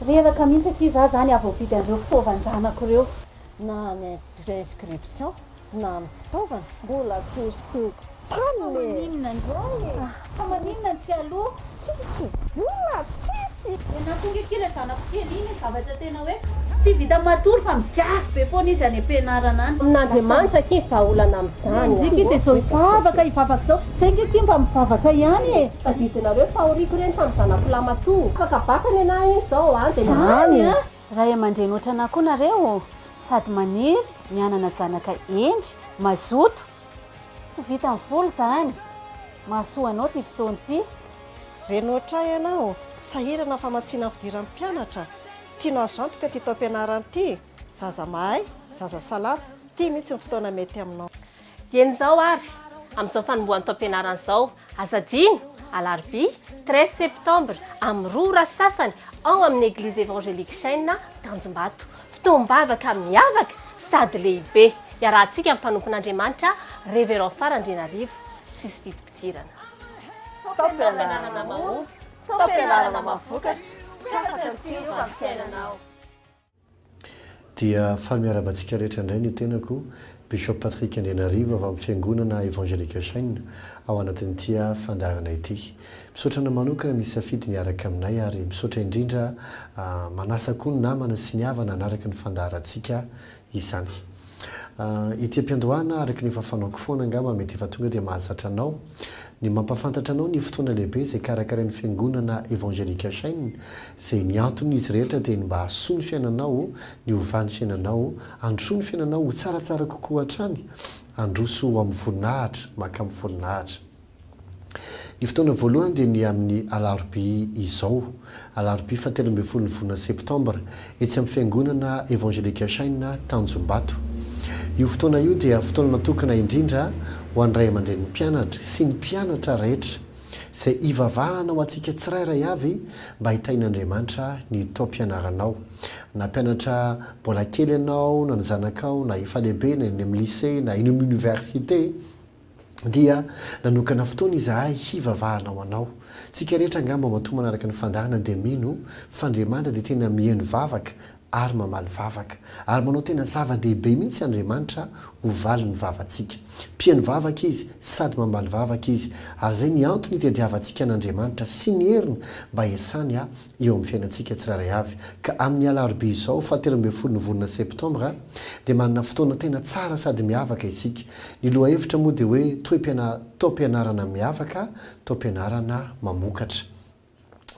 Reraka mihitsy akia za zany aho voavidy an'ireo fitaovan-janako ireo. Na any inscription na amin'ny fitaovana. Mbola tsy hosintomiko taminy e! Fa maninona indray e? Fa maninona ny tsy aloha? Tsisy vola tsisy! Dia nahatonga akia ilay zanako kely iny ny zavatra tena hoe tsy vitan'ny matory fa migadro be foana izy any am-pianarana any. Amin'Andriamanitra akia ny vahaolana Andry akia de zao hivavaka hivavaka zao, saingy akia mba mivavaka ihany e! Tadidinareo fa aoriako ireny tamin'ny zanako lahy matoa. Afaka bata ny anah iny zao an! Zany an! Ray aman-dreny otranà koa nareo ô! Sady maniry ny hanana zanaka hendry, mazoto! Tsy vitan'ny vola zany! Mahasoa anao ty fotoana ty! Reny ohatray ianao, sahirana ny famatsiana ny fidiran'ny mpianatra, tianao azo antoka ity taom-pianarana ity? Zaza mahay, zaza salama, ity mihitsy ny fotoana mety aminao. Dieny izao ary, amin'izao fanombohan'ny taom-pianarana izao, aza adino, alarobia, treize septembre, amin'ny roa ora sy sasany, ao amin'ny Eglizy Evangelique Chêne, Tanjombato. Fotoam-bavaka miavaka sady lehibe, iarahantsika amin'ny mpanompon'Andriamanitra, Révérend Fara Andrianarivo, tsisy vidim-pidirana. Taom-pianarana mahomby, taom-pianarana mahavokatra, tsy afaka ny tsy hiova amin'ny fiainanao. Dia faly miarahaba antsika rehetra indray ny tenako, Bishop Patrick Andrianarivo avy amin'ny Fiangonana Evangelique Shine ao anatin'ity fandaharana ity. Misaotra anao manokana nisafidy ny hiaraka aminay ary misaotra indrindra manasa koa ny namana sy ny havana hanaraka ny fandaharantsika izany. Ity am-piandohana araka ny efa fanaoko foana angamba mety efa tonga dia mahazatra anao. Ny mampahafantatra anao ny fotoana lehibe izay karakarain'ny Fiangonana Evangelica Chain izay ny anton'izy rehetra dia ny mba hahasoa ny fiainanao, ny hovà ny fiainanao, handrosoa ny fiainanao ho tsaratsara kokoa hatrany, handroso ho amin'ny voninahitra, maka amin'ny voninahitra. Ny fotoana voalohany dia ny amin'ny alarobia izao. Alarobia fahatelo ambin'ny folon'ny volana septambra, etsy amin'ny Fiangonana Evangelique Shine Tanjombato. Io fotoana io dia fotoana natokana indrindra ho an'ny ray aman-drenin'ny mpianatra sy ny mpianatra rehetra, izay hivavahana ho antsika tsirairay avy mba hitahian'Andriamanitra ny taom-pianaranao, na mpianatra mbola kely ianao, na ny zanakao, na efa lehibe, na eny amin'ny lycée, na eny amin'ny oniversite. dia nanokana fotoana izahay hivavahana ho anao. Tsika rehetra angamba matoa manaraka ny fandahana dia mino f'Andriamanitra dia tena miheno vavaka ary mamaly vavaka. Ary manao tena zava-dehibe mihitsy Andriamanitra ho valin'ny vavantsika. Mpiheno vavaka Izy sady mamaly vavaka Izy ary izay ny antony itadiavantsika an'Andriamanitra sy ny heriny mba hiasany eo amin'ny fiainantsika tsirairay avy. Ka amin'ny alarobia izao, fahatelo ambin'ny folo ny volana septambra, dia manana fotoana tena tsara sady miavaka isika. Ny lohahevitra moa dia hoe Toe-pianarana miavaka, Toe-pianarana mamokatra.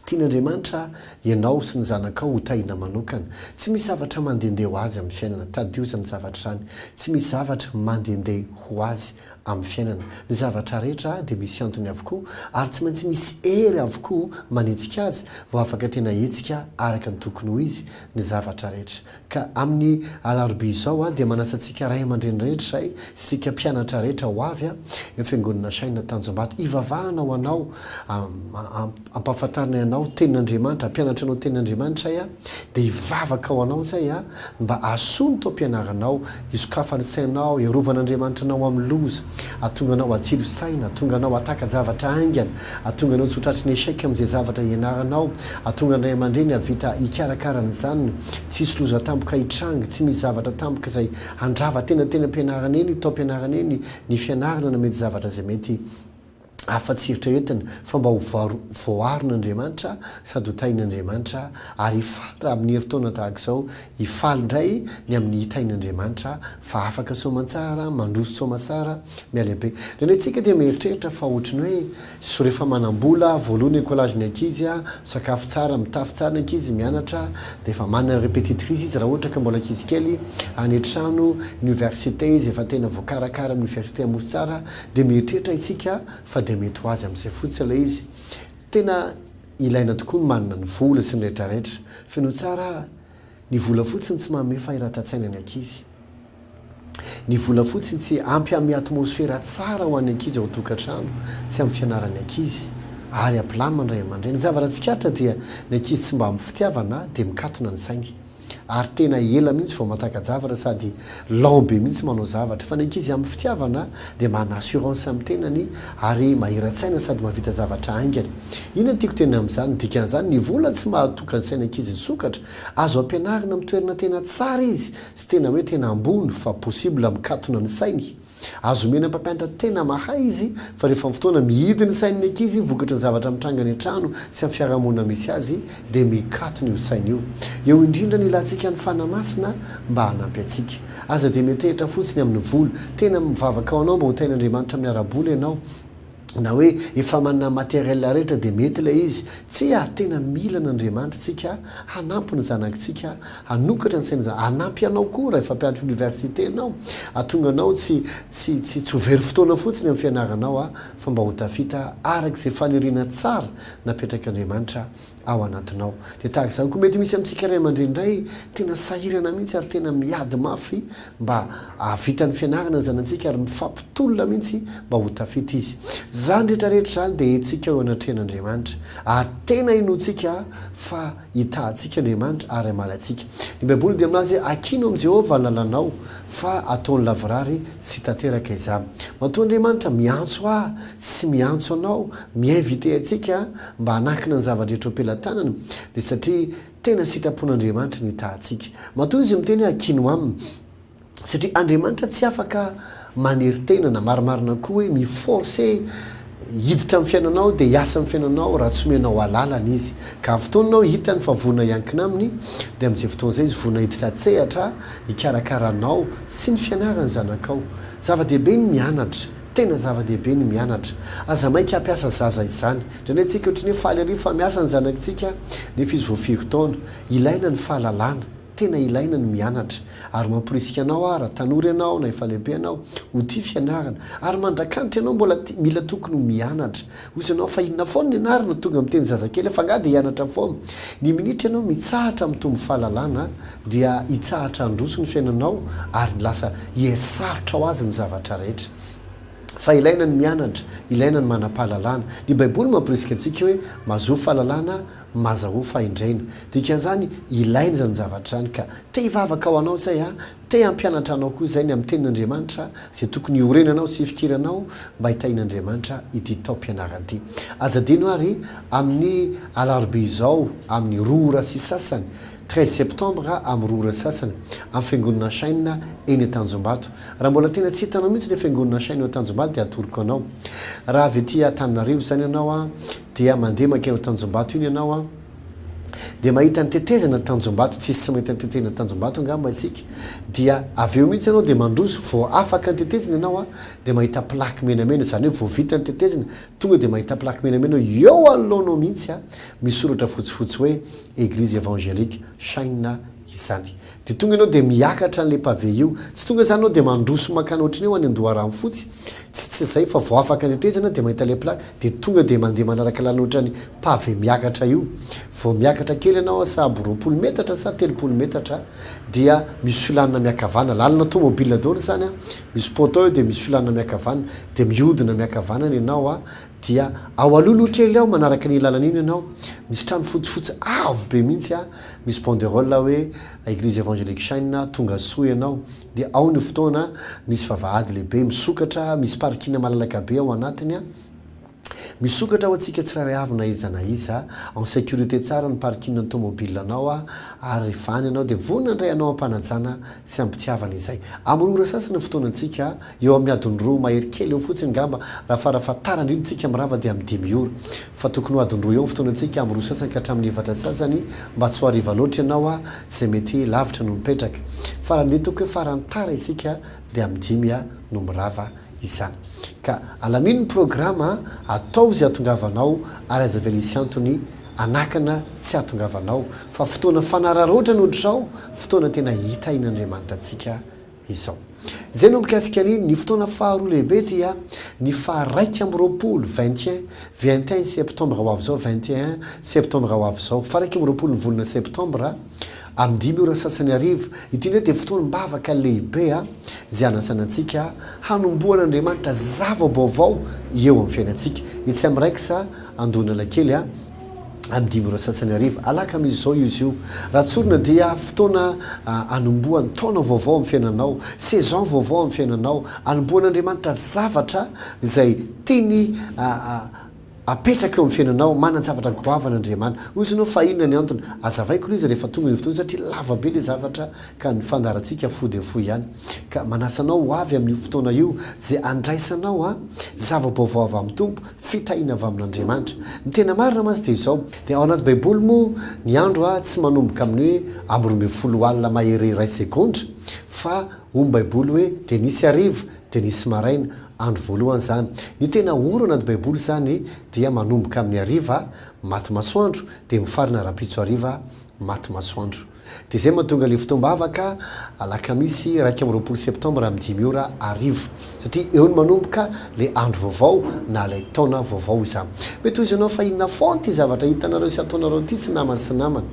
Tian'Andriamanitra ianao sy ny zanakao ho tahiana manokana. Tsy misy zavatra mandehandeha ho azy amin'ny fiainana. Tadidio izany zavatra izany. Tsy misy zavatra mandehandeha ho azy Amin'ny fiainana, ny zavatra rehetra dia misy antony avokoa ary tsy maintsy misy hery avokoa manenjika azy vao afaka tena hihetsika araka ny tokony ho izy ny zavatra rehetra. Ka amin'ny alarobia izao aho dia manasa antsika ray aman-dreny rehetra izay, isika mpianatra rehetra ho avy, eo Fiangonana Shina Tanjombato, hivavahana ho anao am, am, ampahafantarinay anao tenin'Andriamanitra, ampianatro anao tenin'Andriamanitra ay a, dia hivavaka ho anao zay a, mba hahasoa ny taom-pianaranao, hisokafany ny sainao, hiarovana Andriamanitra anao amin'ny loza, hahatonga anao hatsilo saina, hahatonga anao hataka-javatra haingana, hahatonga anao tsy ho tratry ny échec amin'izay zavatra hianaranao, hahatonga ny ray aman-dreny hahavita hikarakara ny zanany, tsy hisy loza tampoka hitranga, tsy misy zavatra tampoka izay handrava tena teny am-pianarana eny, taom-pianarana eny, ny fianarana na mety zavatra izay mety afa-tsy eritreretina fa mba ho voarin'Andriamanitra sady ho tahin'Andriamanitra, ary hifaly raha amin'ny herintaona tahaka izao, hifaly indray ny amin'ny hitain'Andriamanitra fa afaka soamantsara, mandroso tsoamasara, mialehibe. Indraindray isika dia mieritreritra fa ohatry ny hoe so rehefa manam-bola, voaloa ny écolage ny ankizy, misakafo tsara, mitafy tsara ny ankizy, mianatra, dia efa manana répétitrice izy raha ohatra ka mbola ankizy kely, any an-trano, université izy efa tena voakarakara amin'ny université Amosotsara, dia mieritreritra isika fa dia mety ho azy amin'izay fotsiny ilay izy. Tena ilaina tokoa ny manana ny vola sy ny rehetrarehetra. Fenoy tsara aho, ny vola fotsiny tsy manome fahiratan-tsaina ny ankizy. Ny vola fotsiny tsy ampy hanome atmosfera tsara ho an'ny ankizy ao an-tokantrano sy amin'ny fianaran'ny ankizy ary hampilamina ny ray aman-dreny. Ny zava-raha tsikaritra dia ny ankizy tsy mba ampy fitiavana dia mikatona ny sainy. ary tena ela mihitsy vao manjaka-javatra sady lent be mihitsy manao zavatra fa ny ankizy amin'ny fitiavana dia manana assurance amin'ny tenany ary mahira-tsaina sady mahavita zavatra haingana. Inona no tiako tenenina amin'izany? Ny dikan'izany, ny vola tsy mahatoka ny sain'ankizy hisokatra, azo ampianarina amin'ny toerana tena tsara izy sy tena hoe tena ambony fa possible mikatona ny sainy. Azo omena mpampianatra tena mahay izy fa rehefa ny fotoana mihidy ny sain'ny ankizy vokatry ny zavatra mitranga any an-trano sy amin'ny fiarahamonina misy azy dia mikatona io saina io. Eo indrindra ny ilantsika an'i Fana Masina mba hanampy antsika. Aza dia miantehitra fotsiny amin'ny vola. Tena mivavaka ho anao mba ho tahin'Andriamanitra amin'ny ara-bola ianao. na hoe efa manana matériel rehetra dia mety ilay izy. Tsia ary tena mila an'Andriamanitra tsika hanampy ny zanakitsika hanokatra ny sainan'izany, hanampy anao koa raha efa mpianatra université ianao hahatonga anao tsy tsy tsy tsy ho very fotoana fotsiny amin'ny fianaranao fa mba ho tafita araka izay faniriana tsara napetrak'Andriamanitra ao anatinao. Dia tahaka izany koa mety misy amintsika ray aman-dreny indray tena sahirana mihitsy ary tena miady mafy mba hahavita ny fianarana ny zanatsika ary mifampitolona mihitsy mba ho tafita izy. Izany rehetra rehetra izany dia hetsika eo anatrehan'Andriamanitra ary tena inoantsika fa hitahantsika Andriamanitra ary hamaly antsika. Ny Baiboly dia milaza hoe Akino amin'i Jehovah ny lalànao fa ataony lavorary sy tanteraka izany. Matoa Andriamanitra miantso ahy sy miantso anao mi-inviter antsika, mba hanakina ny zava-drehetra eo am-pelatanana, dia satria tena sitrapon'Andriamanitra ny hitahantsika. Matoa izy miteny hoe Akino aminy, satria Andriamanitra tsy afaka manery tena, na marimarina koa hoe mi-forcer hiditra amin'ny fiainanao dia hiasa amin'ny fiainanao raha tsy omenao alalana izy. Ka amin'ny fotoana anao hitany fa vonona hiankina aminy, dia amin'izay fotoana izay izy vonona hiditra an-tsehatra hikarakara anao sy ny fianaran'ny zanakao. Zava-dehibe ny mianatra. Tena zava-dehibe ny mianatra. Aza maika hampiasa zaza izany. Indraindray antsika ohatry ny hoe faly ery fa miasa ny zanakintsika nefa izy vao firy taona. Ilaina ny fahalalana. Tena ilaina ny mianatra. Ary mamporisika anao aho raha tanora ianao na efa lehibe ianao ho tia fianarana. Ary mandrakanitra ianao mbola tia, mila tokony ho mianatra. Hozy ianao fa inona foana ny ianarana, tonga miteny zazakely aho fa angaha dia hianatra foana. Ny minitra ianao mitsahatra mitombo fahalalana. Dia hitsahatra handroso ny fiainanao ary lasa hihasarotra ho azy ny zavatra rehetra. Fa ilaina ny mianatra, ilaina ny manam-pahalalana. Ny Baiboly mamporisika antsika hoe, Mazoa fahalalana, mazahoa fahendrena. Dikan'izany, ilaina izany zavatra izany. Ka te hivavaka ho anao izay aho, te hampianatra anao koa izay ny amin'ny Tenin'Andriamanitra, izay tokony hiorenanao sy hifikiranao mba hitahian'Andriamanitra ity taom-pianarana ity. Aza adino àry, amin'ny alarobia izao, amin'ny roa ora sy sasany, Treize septembre amin'ny roa ora sy sasany, amin'ny Fiangonana Shine eny Antanjombato. Raha mbola tena tsy hitanao mihitsy ilay Fiangonana Shine ao Antanjombato dia atoroko anao. Raha avy aty Antananarivo izany ianao dia mandeha mankeny Antanjombato iny ianao an! dia mahita ny tetezana Antanjombato, tsisy tsy mahita ny tetezana Antanjombato angamba isika, dia avy eo mihitsy ianao dia mandroso, vao afaka ny tetezana ianao an! dia mahita plaque menamena, izany hoe vao vita ny tetezana, tonga dia mahita plaque menamena eo anoloanao mihitsy an! misy soratra fotsifotsy hoe. Eglise Evangelique China izany. Dia tonga ianao dia miakatra an'ilay pavé io. Tsy tonga izany ianao dia mandroso mankany ohatry ny hoe ho any Andoharanofotsy. Tsy tsy izay fa vao afaka nitetezana dia mahita ilay plaque dia tonga dia mandeha manaraka lalana ohatry ny pavé miakatra io. Vao miakatra kely ianao sahabo roapolo metatra sa telopolo metatra dia misy filanina miakavana. Lalana tômôbila daholo izany an. Misy poteau eo dia misy filanina miakavana. Dia mihodina miakavanana ianao Dia ao aloha aloha kely ao manaraka an'iny lalana iny ianao, misy trano fotsifotsy avo be mihitsy a, misy banderole hoe Eglise Evangelique Shine, tonga soa ianao. Dia ao ny fotoana misy vavahady lehibe misokatra, misy parking malalaka be ao anatiny a. Misokatra ho antsika tsirairay avy na iza na iza, en sécurité tsara ny parking ny tomobilanao a, ary vany ianao dia vonona indray hanao am-panajana sy am-pitiavana izay. Amin'ny roa ora sasany ny fotoanantsika. Eo amin'ny adiny roa mahery kely eo fotsiny ngamba raha farafahatarany io ny tsika mirava dia amin'ny dimy ora. Fa tokony ho adiny roa eo ny fotoanantsika amin'ny roa sasany ka hatramin'ny efatra sasany mba tsy ho hariva loatra ianao a, izay mety hoe lavitra no mipetraka. Fa raha ny hita hoe farany tara isika dia amin'ny dimy a no mirava izany. Ka alamino ny programa a, ataovy izay hatongavanao ary aza avela hisy antony hanakana tsy hahatongavanao fa fotoana fanararaotrana ohatr'izao fotoana tena hitahin'Andriamanita antsika izao. Izay no mikasika ny ny fotoana faharoa lehibe dia ny faha raika amby roapolo, vingt et un, vingt et un septembre ho avy izao, vingt et un septembre ho avy izao, faha raika amby roapolo ny volana septambra, amin'ny dimy ora sasany hariva. Ity indray dia fotoam-bavaka lehibe izay hanasana antsika hanombohana Andriamanitra zava-baovao eo amin'ny fiainantsika. Etsy amin'ny Rex Andohanalakely. any dimy ora sasany hariva, alakamisy izao io izy io. Raha tsorina dia fotoana anombohan'ny taona vaovao amin'ny fiainanao, saison vaovao amin'ny fiainanao, anombohan'Andriamanitra zavatra izay tiany apetraka eo amin'ny fiainanao, manan-javatra goavana Andriamanitra. Hoy izy ianao fa inona ny antony? Azavaiko ilay izy rehefa tonga ilay fotoana satria lava be ilay zavatra ka ny fandaharantsika fohy dia fohy ihany. Ka manasa anao ho avy amin'io fotoana io izay handraisanao zava-baovao avy amin'ny Tompo. Fitahiana avy amin'Andriamanitra. Ny tena marina mantsy dia izao, dia ao anaty baiboly moa ny andro a tsy manomboka amin'ny hoe amby roa ambin'ny folo alina mahery iray segondra fa hoy ny baiboly hoe dia nisy hariva dia nisy maraina, andro voalohany izany. Ny tena ora ao anaty baiboly izany dia manomboka amin'ny hariva, maty masoandro, dia mifarana rahampitso hariva, maty masoandro. Dia izay mahatonga ilay fotoam-bavaka alakamisy iraika amby roapolo septambra amin'ny dimy ora hariva. Satria eo no manomboka ilay andro vaovao na ilay taona vaovao izany. Mety ho izy ianao fa inona foana ity zavatra hitanareo sy ataonareo ity tsy namany sy namana.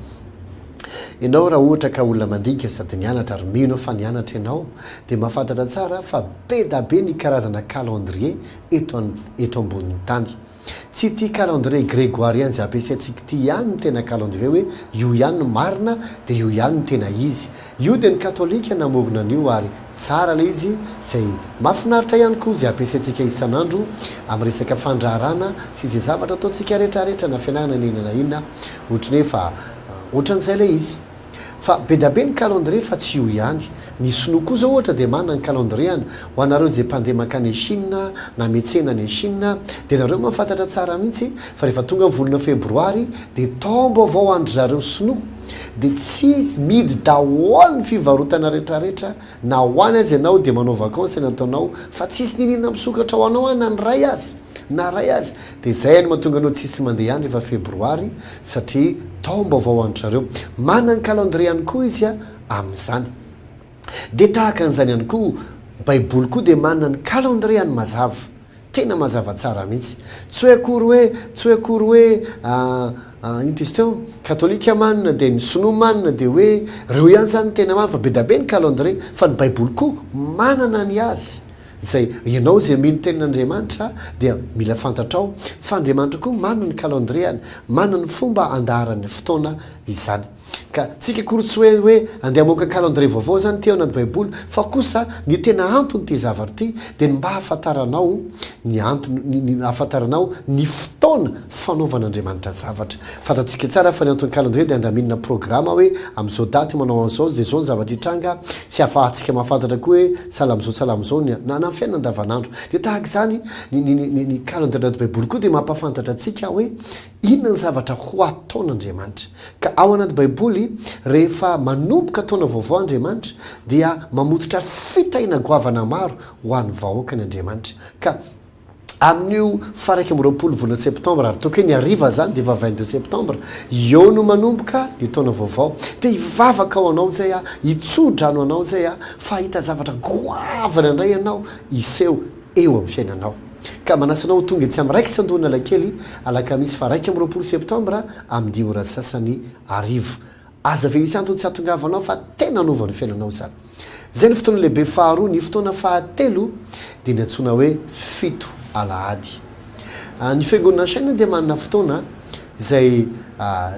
Ianao raha ohatra ka olona mandika sady nianatra ary mino aho fa nianatra ianao dia mahafantatra tsara fa be da be ny karazana calendrier eto eto ambonin'ny tany. Tsy ity calendrier grégoirien izay ampiasaintsika ity ihany no tena calendrier hoe io ihany no marina dia io ihany no tena izy. Io dia ny katolika namorona an'io ary tsara ilay izy izay mahafinaritra ihany koa izay ampiasaintsika isan'andro amin'ny resaka fandraharana sy izay zavatra ataontsika rehetra rehetra na fianarana na inona na inona ohatry ny hoe fa ohatran'izay ilay izy. Fa bedabe ny calendrier fa tsy io ihany. Ny sinoa koa zao ohatra dia manana ny calendrier-ny. Ho anareo izay mpandeha mankany any Chine na metsena any Chine dia nareo mahafantatra tsara mihitsy fa rehefa tonga ny volana febroary dia taom-baovao an-dry zareo sinoa dia tsy midy daholo ny fivarotana retraretra na ho any aza ianao dia manao vakansy any ataonao fa tsisy niniana misokatra ho anao an na ny ray aza na ray aza Dia izay no mahatonga anao tsisy mandeha any rehefa febroary satria taom-baovao an-dry zareo. Manana ny calendrier ihany koa izy amin'izany. Dia tahaka an'izany ihany koa, ny baiboly koa dia manana ny calendrier-ny mazava. Tena mazava tsara mihitsy. Tsy hoe akory hoe, tsy hoe akory hoe, ah, inty izy teo, katolika manana dia ny sinoa manana dia hoe ireo ihany izany no tena manana fa bedabe ny calendrier. Fa ny baiboly koa manana ny azy. Izay, ianao izay mino tenin' Andriamanitra dia mila fantatrao fa Andriamanitra koa manana ny kalandriany, manana ny fomba andaharan'ny fotoana izany. Ka tsika akory tsy hoe hoe andeha hamoaka kalandrie vaovao izany ity ao anaty baiboly fa kosa ny tena antony ity zavatra ity dia ny mba hahafantaranao ny antony ny hahafantaranao ny fotoana fanaovan'Andriamanitra zavatra Fantatsika tsara fa ny anton'ny calendrier dia andraminina programa hoe amin'izao daty io manao an'izao dia izao ny zavatra hitranga sy afahantsika mahafantatra koa hoe sahala amin'izao sahala amin'izao ny na na fiainana andavanandro dia tahaka izany ny ny ny ny calendrier anaty baiboly koa dia mampafantatra antsika hoe inona ny zavatra ho ataon'Andriamanitra ka ao anaty baiboly rehefa manomboka taona vaovao Andriamanitra dia mamototra fitahiana goavana maro ho an'ny vahoakany Andriamanitra ka amin'io faraika amby roapolo volana septambra ary tokony ny hariva zany dia efa vingt deux septambra eo no manomboka ny taona vaovao dia hivavaka ho anao zay aho hitsodrano anao zay aho fa hahita zavatra goavana indray ianao hiseho eo amin'ny fiainanao ka manasa anao ho tonga etsy amin'ny raikitra Andohanalakely alakamisy faraika amby roapolo septambra amin'ny dimy ora sasany hariva Aza velisa antony tsy hahatongavanao fa tena hanova ny fiainanao izany. Izay no fotoana lehibe faharoa. Ny fotoana fahatelo dia ny antsoina hoe fito alahady. Ny Fiangonana Shine dia manana fotoana izay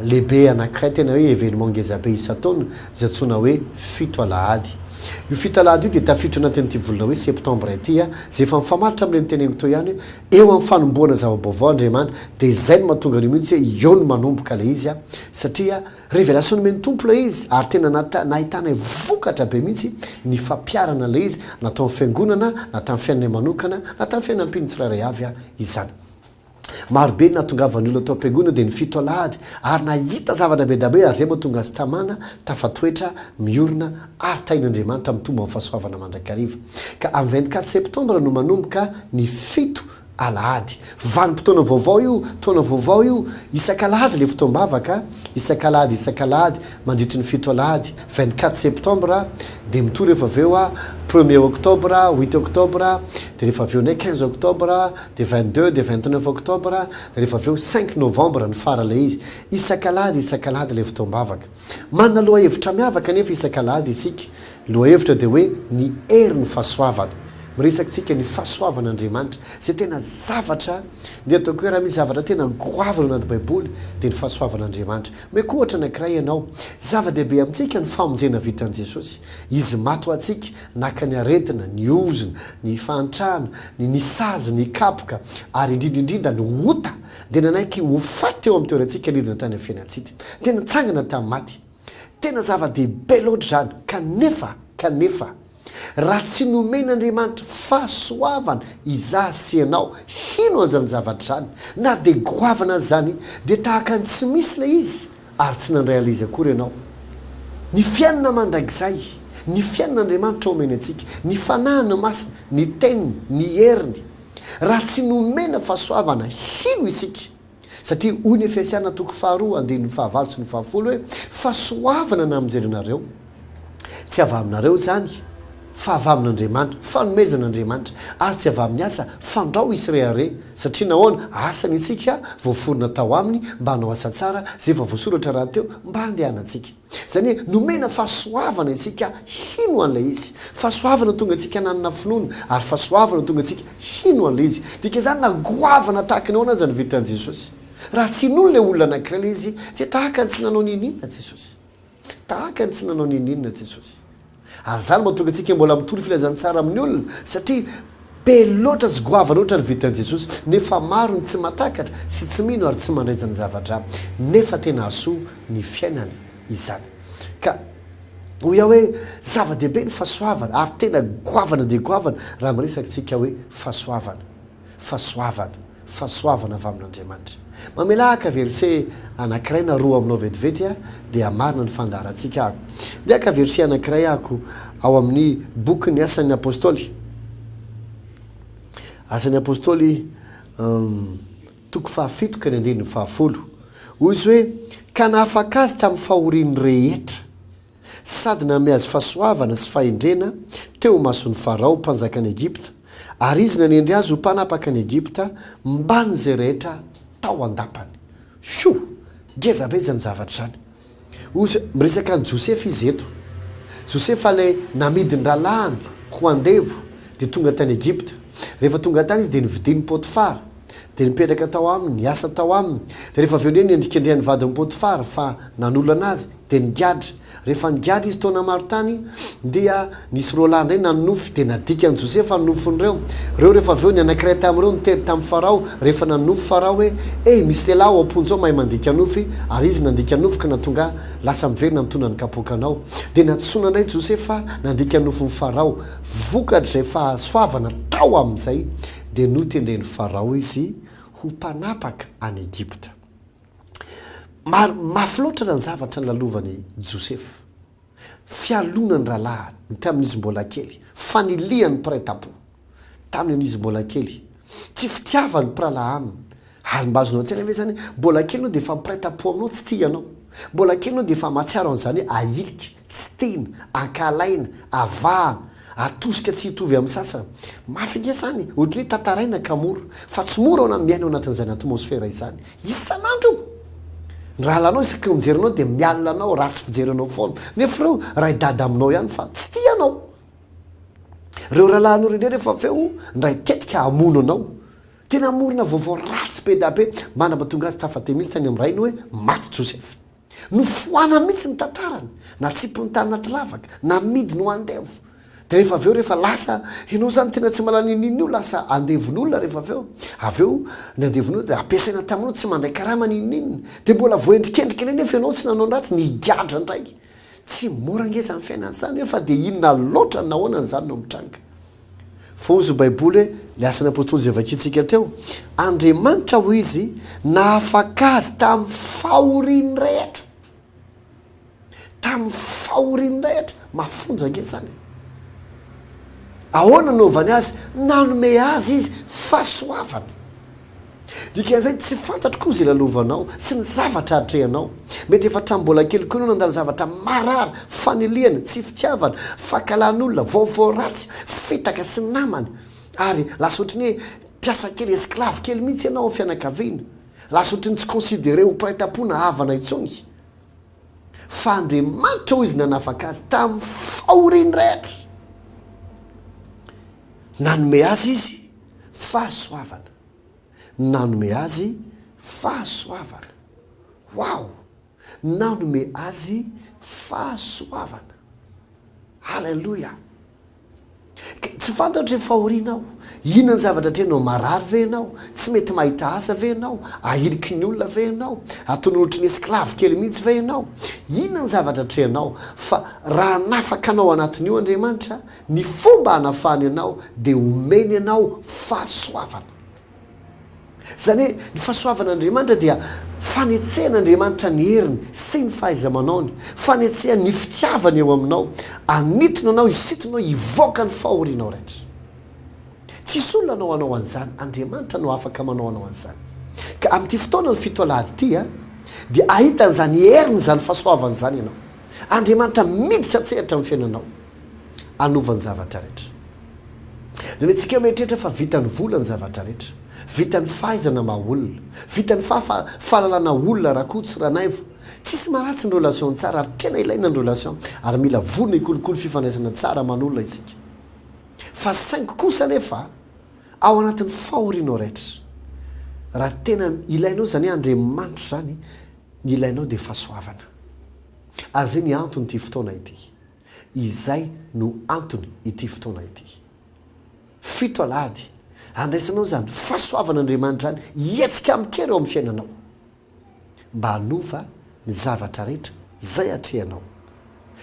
lehibe anankiray tena hoe événement ngeza be isan-taona izay antsoina hoe fito alahady. Io fito alahady io dia tafiditra ao anatin'ity volana hoe septembre ity izay efa mifamaritra amin'ilay noteneniko teo ihany hoe Eo amin'ny fanombohana zava-baovao Andriamanitra dia izay no mahatonga an'io mihitsy hoe eo no manomboka ilay izy satria révélation nomen'ny Tompo ilay izy ary tena nahitanay vokatra be mihitsy ny fampiharana ilay izy na tao amin'ny fiangonana na tamin'ny fiainanay manokana na tamin'ny fiainam-pino tsirairay avy izany. Maro be ny nahatongavan'ny olona tao am-piangonana dia ny fito alahady ary nahita zavatra be dabe ary izay mahatonga azy tamana tafatoetra miorina ary tahin'Andriamanitra mitombo amin'ny fahasoavana mandrakariva, ka amin'ny vingt quatre septembre no manomboka ny fito alahady. Vanim-potoana vaovao io, taona vaovao io, isak'alahady ilay fotoam-bavaka, isak'alahady isak'alahady mandritry ny fito alahady, vingt quatre septembre, dia mitohy rehefa avy eo premier octobre, huit octobre, dia rehefa avy eo indray quinze octobre, dia vingt deux, dia vingt neuf octobre, dia rehefa avy eo cinq novembre ny fara ilay izy. Isak'alahady isak'alahady ilay fotoam-bavaka. Manana lohahevitra miavaka anefa isak'alahady isika. Ny lohahevitra dia hoe ny herin'ny fahasoavana. Miresaka isika ny fahasoavan'Andriamanitra, izay tena zavatra ny ataoko hoe raha misy zavatra tena goavana ao anaty Baiboly dia ny fahasoavan'Andriamanitra. Omeko ohatra anankiray ianao. Zava-dehibe amintsika ny famonjena vitan'i Jesosy. Izy maty ho antsika, naka ny aretina, ny ozona, ny fahantrana, ny ny sazy, ny kapoka ary indrindra indrindra ny ota. Dia nanaiky ho faty teo amin'ny toerantsika nidina tany amin'ny fiainantsika. Dia nitsangana tamin'ny maty. Tena zava-dehibe loatra izany. Kanefa, kanefa, raha tsy nomen'Andriamanitra fahasoavana izaho sy ianao hino an'izany zavatra izany, na dia goavana aza izany, dia tahaka ny tsy misy ilay izy, ary tsy nandray an'ilay izy akory ianao. Ny fiainana mandrakizay, ny fiainan'Andriamanitra omeny antsika, ny Fanahiny Masina, ny Teniny, ny heriny. Raha tsy nomena fahasoavana, hino isika. Satria hoy ny Efesiana toko faharoa andininy fahavalo sy ny fahafolo hoe, Fahasoavana namonjena anareo, tsy avy aminareo izany, fa avy amin'Andriamanitra, fanomezan'Andriamanitra, ary tsy avy amin'ny asa, fandrao hisy rehareha. Satria nahoana? Asany isika, voaforona tao aminy mba hanao asa tsara, izay efa voasoratra rahateo mba handehanantsika. Izany hoe nomena fahasoavana isika hino an'ilay izy. Fahasoavana tonga antsika hananana finoana, ary fahasoavana tonga antsika hino an'ilay izy. Dika izany na goavana tahaka ny ahoana aza ny vetan'i Jesosy, raha tsy inoany ilay olona anankiray ilay izy, dia tahaka ny tsy nanao n'inon'inona Jesosy. Tahaka ny tsy nanao n'inon'inona Jesosy. Ary izany mahatonga antsika mbola mitory filazantsara amin'ny olona, satria be loatra sy goavana loatra ny vitan'i Jesosy, nefa maro ny tsy mahatakatra sy tsy mino ary tsy mandray izany zavatra, nefa tena hahasoa ny fiainany izany. Ka hoy aho hoe zava-dehibe ny fahasoavana, ary tena goavana dia goavana raha miresaka isika hoe fahasoavana. Fahasoavana, fahasoavana avy amin'Andriamanitra. Mamelà haka verset anankiray na roa aminao vetivety aho dia hamarina ny fandaharantsika aho. Ndeha haka verset anankiray ahako ao amin'ny bokin'ny Asan'ny Apostoly. Asan'ny Apostoly, um, toko fahafito ka ny andininy fahafolo. Hoy izy hoe, Ka nahafaka azy tamin'ny fahoriany rehetra. sady nanome azy fahasoavana sy fahendrena teo imason'i Farao, mpanjakan'i Egypta, ary izy nanendry azy ho mpanapaka an'i Egypta mbamin'izay rehetra tao an-dapany. Hio! Ngeza be izany zavatra izany! Ozy, miresaka an'i Josefa izy eto. Josefa ilay namidin-drahalahiny ho andevo, dia tonga tany Egypta. Rehefa tonga tany izy dia novidian'i Potifara, dia nipetraka tao aminy, niasa tao aminy. Dia rehefa avy eo indray nendrikendrehan'ny vadin'i Potifara fa nanolana azy. Dia nigadra. Rehefa nigadra izy taona maro tany, dia nisy roa lahy indray nanonofy, dia nadikan'i Josefa ny nofin'ireo. Ireo rehefa avy eo, ny anankiray tamin'ireo niteny tamin'i Farao, rehefa nanonofy Farao hoe, Hey, misy lehilahy ao am-ponja ao mahay mandika nofy, ary izy nandika nofy ka nahatonga ahy lasa miverina mitondra ny kapoakanao. Dia nantsoina indray Josefa nandika nofin'i Farao. Vokatr'izay fahasoavana tao amin'izay, dia notendren'i Farao izy ho mpanapaka any Egypta. Mafy loatra raha ny zavatra nolalovany Josefa. Fialonany ny rahalahiny tamin'ny izy mbola kely. Fanilihany ny mpiray tampo tamin'ny izy mbola kely. Tsy fitiavany ny mpirahalahy aminy. Ary mba azonao an-tsaina ve izany hoe mbola kely ianao dia efa mpiray tampo aminao, tsy tia ianao. Mbola kely ianao dia efa mahatsiaro an'izany hoe ahilika. Tsy tena, ankahalaina, avahana, atosika tsy hitovy amin'ny sasany. Mafy ange izany e! Ohatran'ny hoe tantaraina ka mora. Fa tsy mora hono ny miaina ao anatin'izany atmosfera izany, isan'andro! Ny rahalahinao isaky ny mijery anao dia mialona anao, ratsy fijery anao foana. Nefa ireo ray dada aminao ihany fa tsy tia anao. Ireo rahalahinao ireo indray rehefa avy eo ndray tetika hamono anao. Tena hamorona vaovao ratsy be da be, mandra-pahatonga azy tafatemy mihitsy tany amin'ny rainy hoe maty Josefa. Nofoanany mihitsy ny tantarany, natsipiny tany anaty lavaka, namidiny ho andevo. Dia rehefa avy eo rehefa lasa, ianao izany tena tsy mahalala inininona io, lasa andevon'olona rehefa avy eo. Avy eo ny andevon'olona dia ampiasaina taminao, tsy mandray karama ny inininona. Dia mbola voaendrikendrika indray nefa ianao tsy nanao ny ratsy, nigadra indray. Tsy mora ange izany fiainana izany hoe fa dia inona loatra ny nahoana ny zanany no mitranga. Fa hoy izy Baiboly hoe, Ilay asan'ny Apostoly izay vakintsika teo, Andriamanitra, hoy izy, nahafaka azy tamin'ny fahoriany rehetra. Tamin'ny fahoriany rehetra. Mafonja ange izany. Ahoana no nanaovany azy? Nanome azy izy fahasoavana. Dikan'izay, tsy fantatro koa izay lalovanao sy ny zavatra atrehanao. Mety efa hatramin'ny mbola kely koa ianao nandalo zavatra marary, fanilihana, tsy fitiavana, fankahalàn'olona, vaovao ratsy, fitaka sy namana. Ary lasa ohatry ny hoe mpiasa kely, esclave kely mihitsy ianao amin'ny fianakaviana. Lasa ohatry ny tsy considerer ho mpiray tam-po na havana intsony. Fa Andriamanitra hoy izy nanafaka azy tamin'ny fahoriany rehetra. Nanome azy izy fahasoavana. nanome azy fahasoavana. Wow! Nanome azy fahasoavana. Haleloia! Ka tsy fantatro ry fahoriana aho, inona ny zavatra atrehinao? Marary ve ianao? Tsy mety mahita asa ve ianao? Ahiliky ny olona ve ianao? Ataonao ohatry ny esclave kely mihitsy ve ianao? Inona ny zavatra atrehinao? Fa raha hanafaka anao ao anatin'io Andriamanitra, Ny fomba hanafahany anao dia omeny anao fahasoavana. Izany hoe ny fahasoavan'Andriamanitra dia fanetsehan'Andriamanitra ny heriny sy ny fahaiza-manaony, fanetsehany ny fitiavany eo aminao, hanintona anao hisintonao hivoaka ny fahorianao rehetra. Tsisy olona hanao anao an'izany, Andriamanitra no afaka manao anao an'izany. Ka amin'ity fotoana ny fito alahady ity dia hahita an'izany heriny izany fahasoavany izany ianao. Andriamanitra miditra an-tsehatra amin'ny fiainanao. Hanova ny zavatra rehetra. Renintsika mieritreritra fa vitan'ny vola ny zavatra rehetra. Vitan'ny fahaizana maha olona. Vitan'ny fahafa, fahalalana olona, ra-ko tsy ranaivo. Tsisy maharatsy ny relation tsara ary tena ilaina ny relation ary mila vorona hikolokolo fifandraisana tsara aman'olona isika. Fa saingy kosa anefa ao anatin'ny fahorianao rehetra. Raha tena ilainao izany Andriamanitra izany, ny ilainao dia fahasoavana. Ary izay ny anton'ity fotoana ity. Izay no antony ity fotoana ity. Fito alahady, handraisanao izany fahasoavan'Andriamanitra any hihetsika amin-kery ao amin'ny fiainanao, mba hanova ny zavatra rehetra izay atrehanao.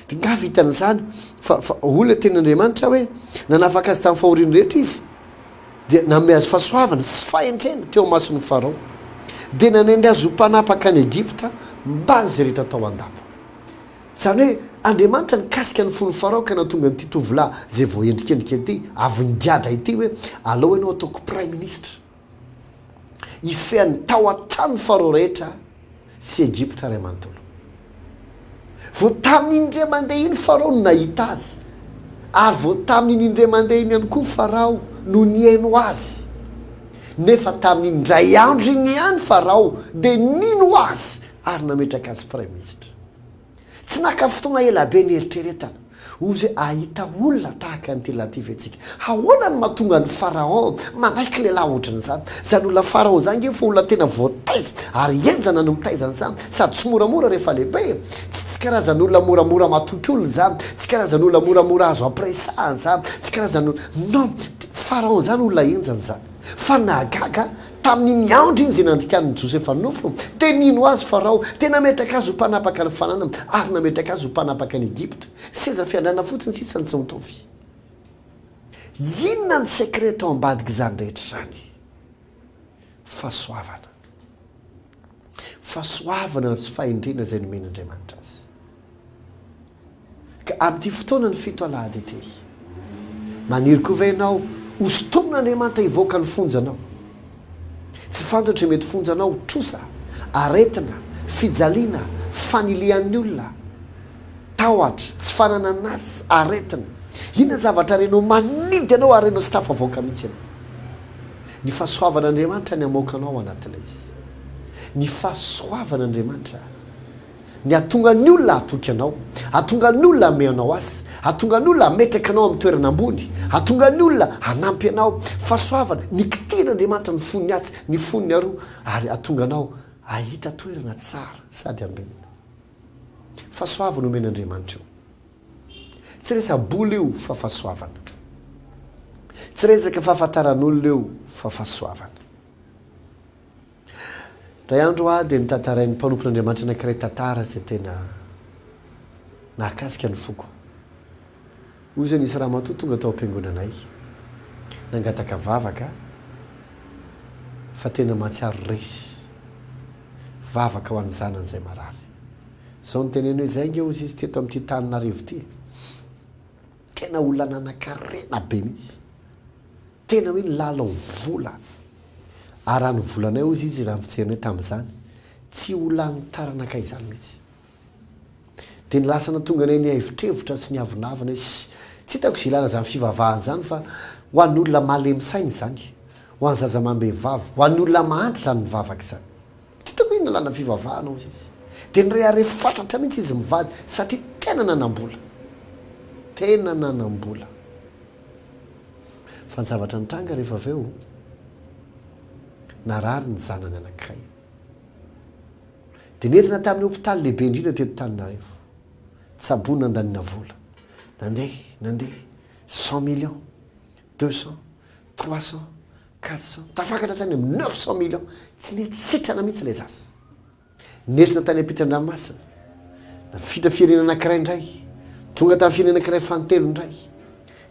Dia nga vitany izany fa, fa hoy ilay tenin'Andriamanitra hoe, Nanafaka azy tamin'ny fahoriany rehetra Izy, dia nanome azy fahasoavana sy fahendrena teo imason'i Farao, dia nanendry azy ho mpanapaka any Egypta mbamin'izay rehetra tao an-dapa. Izany hoe Andriamanitra nikasika ny fon'i Farao ka nahatonga an'ity tovolahy izay voaendrikendrika ity avy nigadra ity hoe alao ianao ataoko praiminisitra hifehan'ny tao an-tranon'i Farao rehetra sy Egypta iray manontolo. Vao tamin'iny indray mandeha iny Farao no nahita azy ary vao tamin'iny indray mandeha iny ihany koa Farao no nihaino azy. Nefa tamin'iny indray andro iny ihany Farao dia nino azy ary nametraka azy praiminisitra. Tsy naka fotoana ela be nieritreretana, hoy izy hoe, Hahita olona tahaka an'ity lehilahy ity ve tsika? Ahoana no mahatonga an'i Farahon manaiky lehilahy hoatran'izany? Izany olona Farahon izany ange efa olona tena voataiza ary henjana no mitaiza an'izany, sady tsy moramora rehefa lehibe e! Tsy tsy karazan'olona moramora matoky olona izany, tsy karazan'olona moramora azo ampiresahana izany, tsy karazan'olona. Non, Farahon izany olona henjana izany. Fa nahagaga ahy, Tamin'iny andro iny izay nandikàn'i Josefa nofo, dia nino azy Farao, dia nametraka azy ho mpanapaka ny fanana, ary nametraka azy ho mpanapaka an'i Egypta. Seza fiandrianana fotsiny sisa no tsy mitovy. Inona ny secret tao ambadik'izany rehetra izany? Fahasoavana. Fahasoavana ary fahendrena izay nomen'Andriamanitra azy. Ka amin'ity fotoanan'ny fito alahady ity, maniry koa ve ianao hosintomin'Andriamanitra hivoaka ny fonjanao? Tsy fantatro izay mety fonjanao, trosa, aretina, fijaliana, fanilihan'ny olona, tahotra, tsy fananana asa, aretina. Inona ny zavatra renao manidy anao ary renao tsy tafavoaka mihitsy ianao? Ny fahasoavan'Andriamanitra ny hamoaka anao ao anatin'ilay izy. Ny fahasoavan'Andriamanitra. Ny hahatonga ny olona hatoky anao, hahatonga ny olona hamehy anao azy, hahatonga ny olona hametraka anao amin'ny toerana ambony, hahatonga ny olona hanampy anao, fahasoavana, ny kitian'Andriamanitra ny fon'ny atsy, ny fon'ny aroa, ary hahatonga anao hahita toerana tsara sady ambenina. Fahasoavana omen'Andriamanitra io. Tsy resa bola io fa fahasoavana. Tsy resaka fahafantaran'olona io fa fahasoavana. Indray andro aho dia notantarain'ny mpanompon'Andriamanitra anankiray tantara izay tena nahakasika ny foko. Hoy izy hoe, Nisy ramatoa tonga tao am-piangonanay. Nangataka vavaka fa tena mahatsiaro resy. Vavaka ho an'ny zanany izay marary. Izao no teneniny hoe, Izay ange hozy izy teto amin'ity tany narivo ity e! Tena olona nanankarena be mihitsy. Tena hoe nilalao vola. Ary raha ny volanay hozy izy raha ny fijerinay tamin'izany, tsy ho lanin'ny taranakay izany mihitsy. Dia ny lasa nahatonga anay nihaivotrevotra sy niavonavona izy. Tsy hitako izay ilàna izany fivavahana izany fa ho an'olona malemy saina izany, ho an'ny zaza amam-behivavy, ho an'ny olona mahantra izany mivavaka izany. Tsy hitako hoe inona ilàna fivavahana hozy izy. Dia nirehareha fatratra mihitsy izy mivady satria tena nanam-bola. Tena nanam-bola. Fa ny zavatra nitranga rehefa avy eo, narary ny zanany anankiray. Dia nentina tamin'ny hopitaly lehibe indrindra teto Antananarivo. Tsaboina nandaniana vola. Nandeha, nandeha, cent millions, deux cents, trois cents, quatre cents, tafakatra hatrany amin'ny neuf cents millions. Tsy nety sitrana mihitsy ilay zaza. Nentina tany am-pitan-dranomasina. Nafindra firenena anankiray indray. Tonga tamin'ny firenena anankiray fahatelo indray.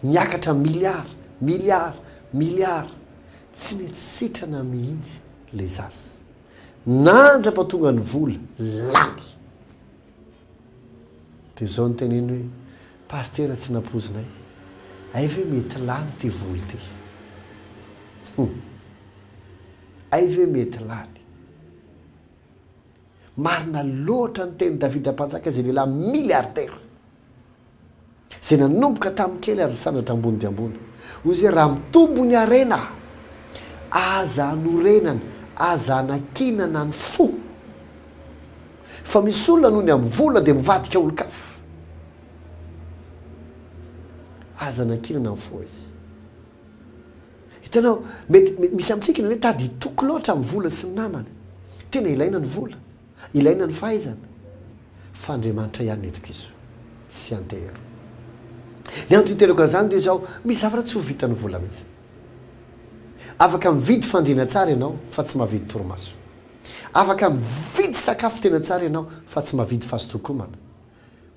Niakatra miliara, miliara, miliara. Tsy nety sitrana mihitsy ilay zaza. Nandra-pahatonga ny vola, lany. Dia izao no teneniny hoe, Pasitera tsy nampoizinay. Hay ve mety lany ity vola ity? Hay ve mety lany? Marina loatra ny tenin'i Davida Mpanjaka izay lehilahy milliardaire izay nanomboka tamin'ny kely ary nisandratra ambony dia ambony. Hoy izy hoe, Raha mitombo ny harena, aza anorenana, aza anakinana ny fo. Fa misy olona noho ny amin'ny vola dia mivadika olon-kafa. Aza anakinana ny fo hoy izy. Hitanao, mety misy amintsika ny hoe tady hitoky loatra amin'ny vola sy ny namana. Tena ilaina ny vola, ilaina ny fahaizana, fa Andriamanitra ihany no itokiso sy antehero. Ny antony itereko an'izany dia izao, misy zavatra tsy ho vitan'ny vola mihitsy. Afaka mividy fandriana tsara ianao fa tsy mahavidy torimaso. Afaka mividy sakafo tena tsara ianao fa tsy mahavidy fazotokomana.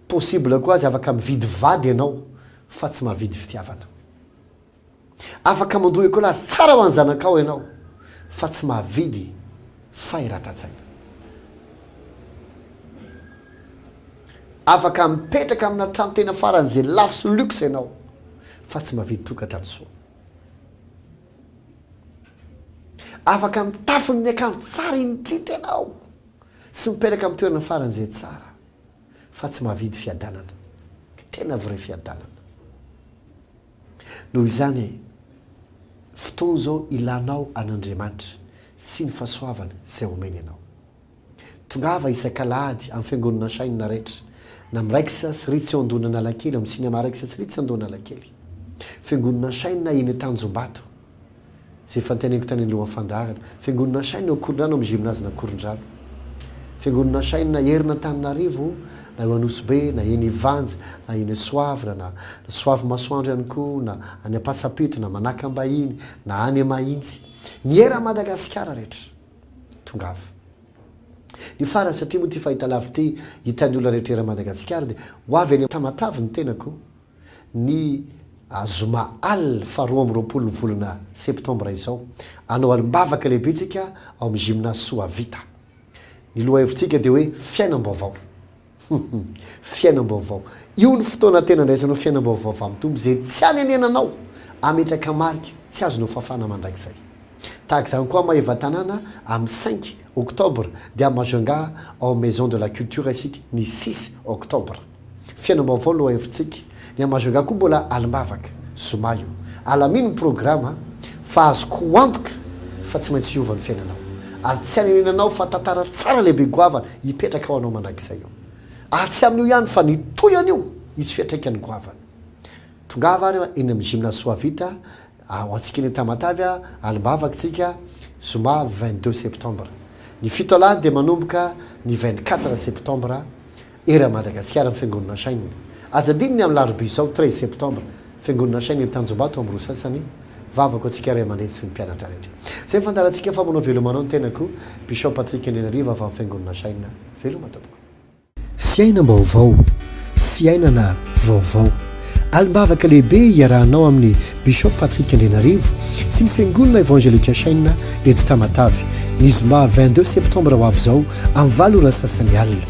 Possible koa aza afaka mividy vady ianao fa tsy mahavidy fitiavana. Afaka mandoa école azy tsara ho an'ny zanakao ianao fa tsy mahavidy fahiratan-tsaina. Afaka mipetraka amina trano tena faran'izay lafo sy luxe ianao fa tsy mahavidy tokantrano soa. Afaka mitafy ny akanjo tsara indrindra ianao sy mipetraka amin'ny toerana faran'izay tsara. fa tsy mahavidy fiadanana, tena vrai fiadanana. Noho izany, fotoana izao ilanao an'Andriamanitra sy ny fahasoavany izay omeny anao. Tongava isak'alahady amin'ny fiangonana Shine na Retra, na miraikitra sy ritsy ao Andohan'Analakely, amin'ny Cinéma Raikitra sy Ritsy Andohan'Alakely, Fiangonana Shine eny Tanjombato, Izay efa noteneniko tany alohan'ny fandaharana. Fiangonana Shine ao Korondrano amin'ny Gymnase-na Korondrano. Fiangonana Shine herin'Antananarivo na eo Anosibe na eny Ivanja na eny Soavina na Soavimasoandro ihany koa na any Ampasapito na Manakambahiny na any Mahitsy. Ny eran'i Madagasikara rehetra. Tongava. Ny farany satria moa ity fahitalavitra ity hitan'ny olona rehetra eran'i Madagasikara dia ho avy eny Tamatave ny tenako ny zoma al faha roa amby roapolo ny volana septambra izao. Hanao alim-bavaka lehibe tsika ao amin'ny Gymnase Soavita. Ny lohahevitsika dia hoe fiainam-baovao. Fiainam-baovao. Io ny fotoana tena andraisanao fiainam-baovao avy amin'ny Tompo izay tsy anenenanao hametraka marika tsy azonao fafana mandrakizay. Tahaka izany koa Maevatanàna amin'ny cinq octobre dia Majunga ao amin'ny Maison de la Culture isika ny six octobre. Fiainam-baovao lohahevitsika, ny an'i Majunga koa mbola alim-bavaka, zoma io. Alamino ny programa a! Fa azoko antoka fa tsy maintsy hiova ny fiainanao. Ary tsy hanenenanao fa tantara tsara lehibe goavana hipetraka ho anao mandrakizay eo. Ary tsy amin'io ihany fa ny tohiny io hisy fiantraikany goavana. Tongava ary eny amin'ny Gymnase Soavita ho antsika eny Tamatave a! Alim-bavaka tsika, zoma vingt deux septembre. Ny fito alahady dia manomboka ny vingt quatre septembre Era Madagasikara ny Fiangonana Shine. Aza adino ny amin'ny larobia izao treize septembre, Fiangonana Shine eny Tanjombato amin'ny roa sy sasany, vavako antsika ray aman-dreny sy ny mpianatra rehetra. Izay fandaharantsika fa manao veloma anao ny tenako, Bishop Patrick Andrianarivo avy amin'ny Fiangonana Shine. Veloma tompoko. Fiainam-baovao, fiainana vaovao. Alim-bavaka lehibe iarahanao amin'ny Bishop Patrick Andrianarivo sy ny Fiangonana Evangelika Chaîne eto Tamatave, ny zoma vingt deux septembre ho avy izao amin'ny valo ora sasany alina.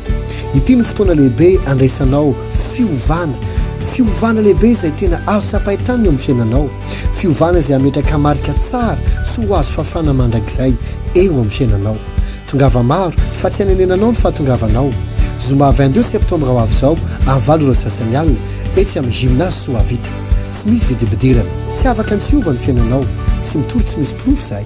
Ity no fotoana lehibe handraisanao fiovana, fiovana lehibe izay tena azo tsapain-tany eo amin'ny fiainanao, fiovana izay hametraka marika tsara tsy ho azo fafana mandrakizay eo amin'ny fiainanao. Tongava maro fa tsy anenenanao ny fahatongavanao. Zoma vingt deux septembre ho avy izao amin'ny valo ora sy sasany alina etsy amin'ny Gymnase Soavita. Tsy misy vidim-pidirana. Tsy afaka ny tsy hiova ny fiainanao. Tsy mitory tsy misy porofo izahay.